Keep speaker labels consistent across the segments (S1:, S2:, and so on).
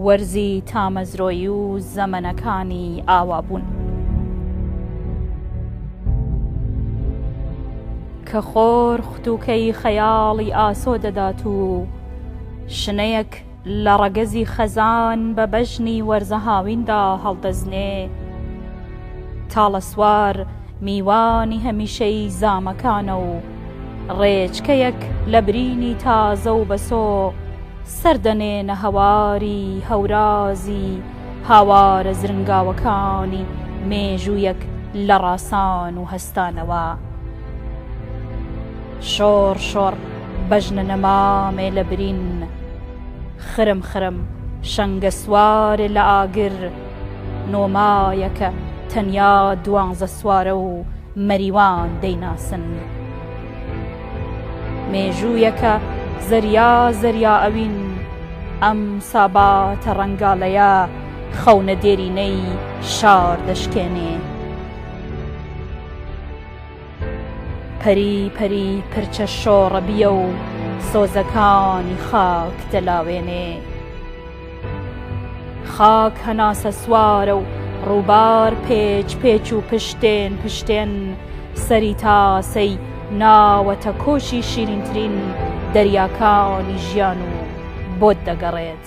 S1: وەرزی تامەزرۆیی و زەمەنەکانی ئاوابوون کە خۆر ختووکەی خەیاڵی ئاسۆ دەدات و شنەیەک لە ڕەگەزی خەزان بە بەژنی وەرزە هاویندا هەڵدەزنێ. تاڵەسوار میوانی هەمیشەی زامەکانە و ڕێچکەیەک لە برینی تازە و بەسۆ سەر دەنێنە هەواری هەورازی هاوارە زرنگاوەکانی مێژوویەک لە ڕاسان و هەستانەوە. شۆڕ شۆڕ بەژنە نەمامێ لە برین خرم خرم شەنگەسوارێ لە ئاگر نۆمایە کە تەنیا دوانزەسوارە و مەریوان دەیناسن مێژوویە کە زەریا زەریا ئەوین ئەم ساباتە ڕەنگاڵەیە خەونە دێرینەی شار دەشکێنێ. پەری پەری پرچە شۆڕەبییە و سۆزەکانی خاک دەلاوێنێ خاک هەناسەسوارە و ڕووبار پێچ پێچ و پشتێن پشتێن سەری تاسەی ناوەتە کۆشی شیرینترین دەریاکانی ژیان و بۆت دەگەڕێت.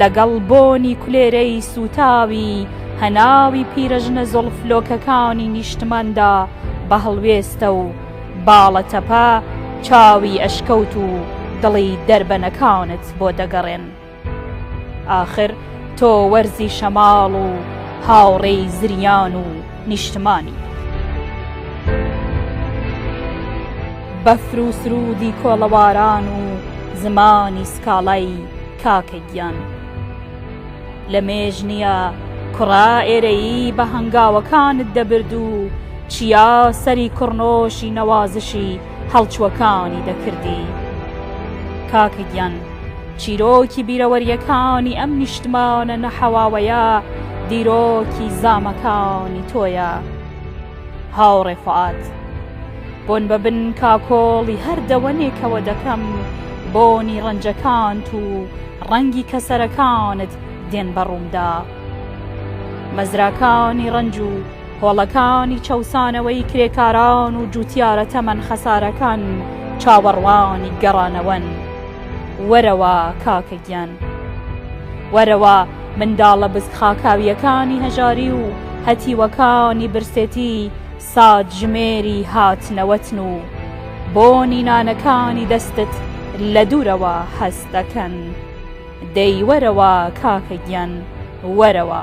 S1: لەگەڵ بۆنی کولێرەی سووتاوی هەناوی پیرەژنە زوڵف لۆکەکانی نیشتماندا بە هەڵوێستە و باڵە تەپە چاوی ئەشکەوت و دڵی دەربەنەکانت بۆ دەگەڕێن. ئاخر تۆ وەرزی شەماڵ و هاوڕێی زریان و نیشتمانی. بەفر و سروودی کۆڵەواران و زمانی سکاڵای. کاکە گیان لە مێژ نیە کوڕە ئێرەیی بە هەنگاوەکانت دەبرد و چیا سەری کوڕنۆشی نەوازشی هەڵچوەکانی دەکردی کاکە گیان چیرۆکی بیرەوەریەکانی ئەم نیشتمانە نەحەواوەیە دیرۆکی زامەکانی تۆیە. هاوڕێ فوئاد. بۆن بە بن کاکۆڵی هەر دەوەنێکەوە دەکەم، بۆنی ڕەنجەکانت و ڕەنگی کەسەرەکانت دێن بە ڕوومدا. مەزراکانی ڕەنج و کۆڵەکانی چەوسانەوەی کرێکاران و جووتیارە تەمەن خەسارەکان چاوەڕوانی گەڕانەوەن. وەرەوە کاکە گیان وەرەوە منداڵە بز خاکاویەکانی هەژاری و هەتیوەکانی برسێتی ساتژمێری هاتنەوەتن و بۆنی نانەکانی دەستت لە دوورەوە هەست دەکەن دەی وەرەوە کاکە گیان وەرەوە.